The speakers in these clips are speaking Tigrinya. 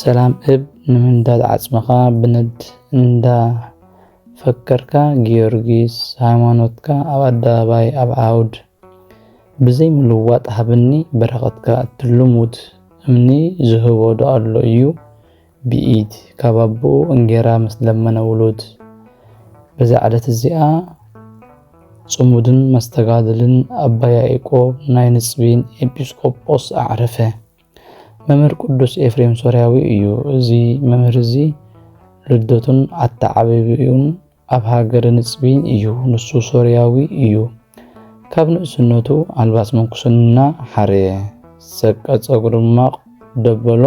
ሰላም እብ ንምንዳድ ዓጽምኻ ብነድ እንዳ ፈከርካ ጊዮርጊስ ሃይማኖትካ ኣብ ኣደባባይ ኣብ ዓውድ ብዘይ ምልዋጥ ሃብኒ በረኸትካ እቲ ልሙድ እምኒ ዝህቦ ዶ ኣሎ እዩ ብኢድ ካብ ኣቦኡ እንጌራ ምስ ለመነ ውሉድ በዛ ዕለት እዚኣ ጽሙድን መስተጋድልን ኣባ ያኢቆብ ናይ ንጽቢን ኤጲስቆጶስ ኣዕረፈ። መምህር ቅዱስ ኤፍሬም ሶርያዊ እዩ። እዚ መምህር እዚ ልደቱን ኣተዓባቢኡን ኣብ ሃገረ ንጽቢን እዩ። ንሱ ሶርያዊ እዩ። ካብ ንእስነቱ ኣልባስ ምንኩስና ሓረየ፣ ሰቀ ጸጉሪ ድማ ደበሎ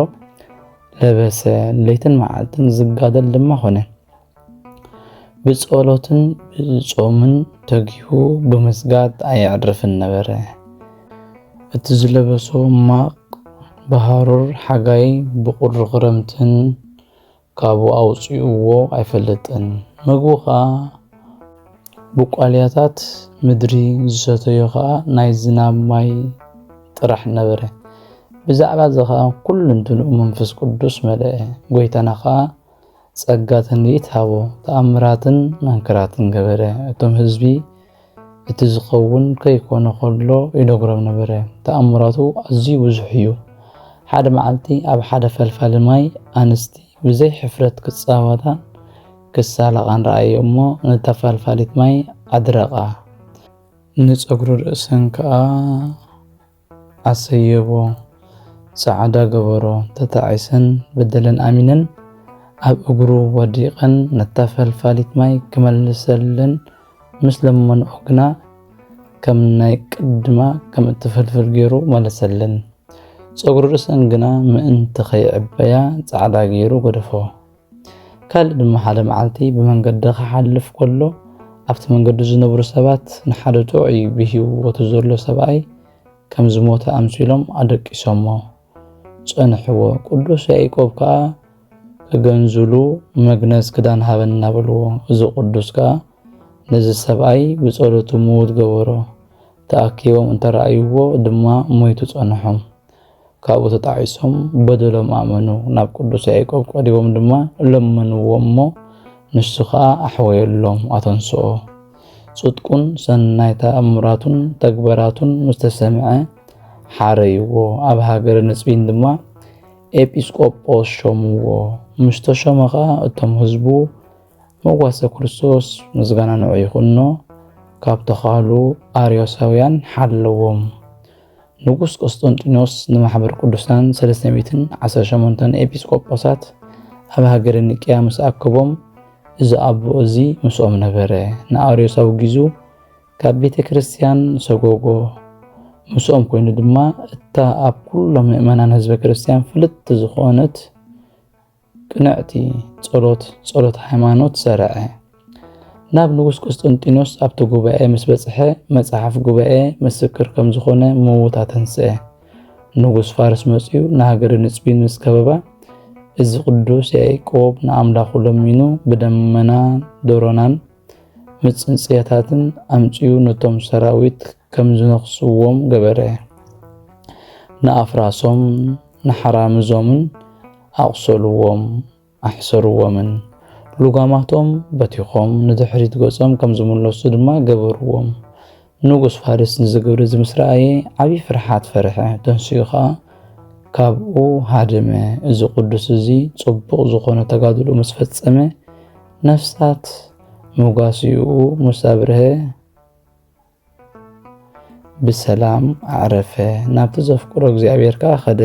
ለበሰ፣ ለይትን መዓልትን ዝጋደል ድማ ኾነ። ብጸሎትን ብጾምን ተጊሁ ብምስጋድ ኣየዕርፍን ነበረ። እቲ ዝለበሶ ማቕ ብሃሩር ሓጋይ ብቑሪ ክረምትን ካብኡ ኣውጽኡዎ ኣይፈልጥን። ምግቡ ኸኣ ብቋልያታት ምድሪ ዝሰተዮ ኸኣ ናይ ዝናብ ማይ ጥራሕ ነበረ። ብዛዕባ እዚ ኸኣ ኩሉ እንትንኡ መንፈስ ቅዱስ መልአ። ጐይታና ኸኣ ጸጋ ትንቢት ሃቦ፣ ተኣምራትን መንክራትን ገበረ፣ እቶም ህዝቢ እቲ ዝኸውን ከይኮነ ከሎ ይነግሮም ነበረ፣ ተኣምራቱ ኣዝዩ ብዙሕ እዩ። ሓደ መዓልቲ ኣብ ሓደ ፈልፋሊ ማይ ኣንስቲ ብዘይ ሕፍረት ክጻወታን ክሳለቓን ረኣየ እሞ ነታ ፋልፋሊት ማይ ኣድረቓ፣ ንጸጉሪ ርእሰን ከኣ ኣሰይይዎ ጻዓዳ ገበሮ ተታዒሰን በደለን ኣሚነን ኣብ እግሩ ወዲቀን ነታ ፈልፋሊት ማይ ክመልሰለን ምስ ለመንኦ ግና ከም ናይ ቅድማ ከም እትፈልፍል ገይሩ መለሰለን ጸጉሪ ርእሰን ግና ምእንቲ ከይዕበያ ጻዕዳ ገይሩ ገደፎ። ካልእ ድማ ሓደ መዓልቲ ብመንገዲ ክሓልፍ ከሎ ኣብቲ መንገዲ ዝነብሩ ሰባት ንሓደ ጥዑይ ብህይወቱ ዘሎ ሰብኣይ ከም ዝሞተ ኣምሲሎም ኣደቂሶሞ ጸንሕዎ። ቅዱስ ያዕቆብ ከኣ ክገንዝሉ መግነዝ ክዳን ሃበና በልዎ። እዚ ቅዱስ ከኣ ነዚ ሰብኣይ ብጸሎቱ ምዉት ገበሮ። ተኣኪቦም እንተረኣይዎ ድማ ሞይቱ ጸንሖም። ካብኡ ተጣዒሶም በደሎም ኣመኑ ናብ ቅዱስ ያዕቆብ ቀሪቦም ድማ ለመንዎ እሞ ንሱ ኸዓ ኣሕወየሎም ኣተንስኦ ጽድቁን ሰናይ ተኣምራቱን ተግበራቱን ምስ ተሰምዐ ሓረይዎ ኣብ ሃገረ ንጽቢን ድማ ኤጲስቆጶስ ሾምዎ ምስ ተሾመ ኸዓ እቶም ህዝቡ መጓሰ ክርስቶስ ምስጋና ንዑ ይኹኖ ካብ ተኻሉ ኣርዮሳውያን ሓለዎም ንጉስ ቆስጠንጢኖስ ንማሕበር ቅዱሳን ሰለስተ ሚእትን ዓሰርተ ሸሞንተን ኤጲስቆጶሳት ኣብ ሃገረ ኒቅያ ምስ ኣከቦም እዚ ኣቦ እዚ ምስኦም ነበረ። ንኣርዮስ ኣውጊዙ ካብ ቤተ ክርስቲያን ሰጎጎ። ምስኦም ኮይኑ ድማ እታ ኣብ ኩሎም ምእመናን ህዝበ ክርስቲያን ፍልጥቲ ዝኾነት ቅንዕቲ ጸሎት፣ ጸሎት ሃይማኖት፣ ሠርዐ። ናብ ንጉሥ ቁስጥንጢኖስ ኣብቲ ጉባኤ ምስ በጽሐ መጽሓፍ ጉባኤ ምስክር ከም ዝኾነ ምውት ኣተንስአ። ንጉሥ ፋርስ መጺኡ ንሃገረ ንጽቢን ምስ ከበባ እዚ ቅዱስ ያዕቆብ ንኣምላኹ ለሚኑ ብደመና ደሮናን ምጽንጽያታትን ኣምጺኡ ነቶም ሰራዊት ከም ዝነኽስዎም ገበረ። ንኣፍራሶም ንሓራምዞምን ኣቝሰልዎም፣ ኣሕሰርዎምን። ልጓማቶም በቲኾም ንድሕሪት ገጾም ከም ዝምለሱ ድማ ገበርዎም። ንጉስ ፋርስ ነዚ ግብሪ እዚ ምስ ረኣየ ዓብዪ ፍርሓት ፈርሐ፣ ተንሲኡ ኸኣ ካብኡ ሃደመ። እዚ ቅዱስ እዚ ጽቡቕ ዝኾነ ተጋድሎ ምስ ፈጸመ፣ ነፍሳት መጓስይኡ ምስ ኣብርሀ፣ ብሰላም ኣዕረፈ ናብቲ ዘፍቅሮ እግዚኣብሔር ከኣ ኸደ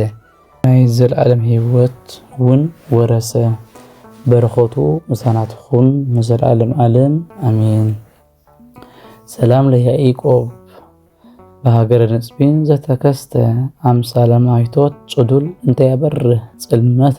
ናይ ዘለዓለም ህይወት ውን ወረሰ። በረኸቱ ምሳና ትኹን ንዘለዓለም ዓለም ኣሜን። ሰላም ለያኢቆብ ብሃገረ ንጽቢን ዘተከስተ ኣምሳለ ማይቶት ጽዱል እንተያበርህ ጽልመተ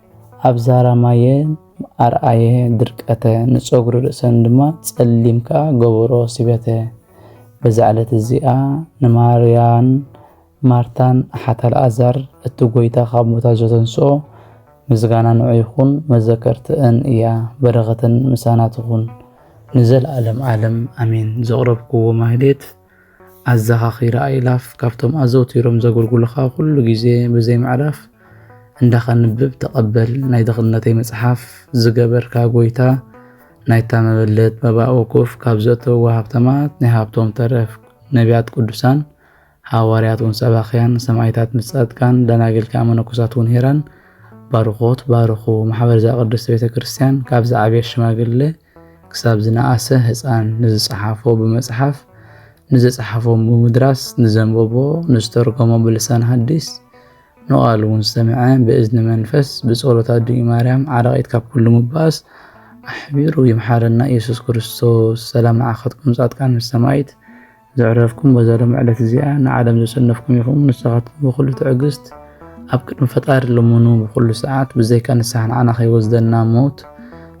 ኣብ ዛራ ማየ ኣርኣየ ድርቀተ ንጸጉሪ ርእሰን ድማ ጸሊም ከኣ ገበሮ ሲበተ። በዛ ዕለት እዚኣ ንማርያን ማርታን ኣሓት ኣልኣዛር እቲ ጎይታ ካብ ሙታት ዘተንስኦ ምስጋና ንዑ ይኹን መዘከርትእን እያ በረኸተን ምሳና ትኹን ንዘልኣለም ኣለም ኣሜን። ዘቕረብክዎ ማህሌት ኣዘኻኺራ ኣእላፍ ካብቶም ኣዘውቲሮም ዘገልግሉኻ ኩሉ ግዜ ብዘይ ምዕራፍ እንዳ ከንብብ ተቐበል ናይ ድኽነተይ መጽሓፍ ዝገበርካ ጎይታ ናይታ መበለት መባእ ወኩፍ ካብ ዘእተውዋ ሃብተማት ናይ ሃብቶም ተረፍ ነቢያት ቅዱሳን ሃዋርያት ውን ሰባኽያን ሰማይታት ምስ ጻድቃን ደናግል ከኣ መነኮሳት ውን ሄራን ባርኾት ባርኹ ማሕበርዛ ቅድስት ቤተ ክርስቲያን ካብ ዝዓበየ ሽማግለ ክሳብ ዝነኣሰ ህጻን ንዝጸሓፎ ብመጽሓፍ፣ ንዘጸሓፎ ብምድራስ፣ ንዘንበቦ፣ ንዝተርጎሞ ብልሳን ሃዲስ፣ ንቓል እውን ዝሰምዐ ብእዝኒ መንፈስ፣ ብጸሎት ኣዲኡ ማርያም ዓራቒት ካብ ኩሉ ምባእስ ኣሕቢሩ ይምሓረና ኢየሱስ ክርስቶስ። ሰላም ንዓኻትኩም ጻድቃን ምስ ሰማይት። ዘዕረፍኩም በዛ ሎሚ ዕለት እዚኣ ንዓለም ዘሸነፍኩም ኢኹም ንስኻትኩም ብኹሉ ትዕግስት ኣብ ቅድሚ ፈጣሪ ልሙኑ ብኹሉ ሰዓት ብዘይካ ንስሓ ንዓና ከይወስደና ሞት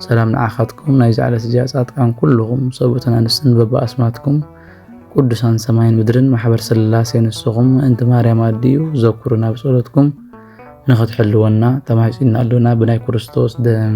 ሰላም ንዓኻትኩም ናይዚ ዕለት እዚኣ ጻድቃን ኩልኹም ሰብኡትን ኣንስትን በብኣስማትኩም ቅዱሳን ሰማይን ምድርን ማሕበር ስላሴ ንስኹም ምእንቲ ማርያም ኣድዩ ዘኩሩና ብጸሎትኩም ንኽትሕልወና ተማሂጽና ኣሎና ብናይ ክርስቶስ ደም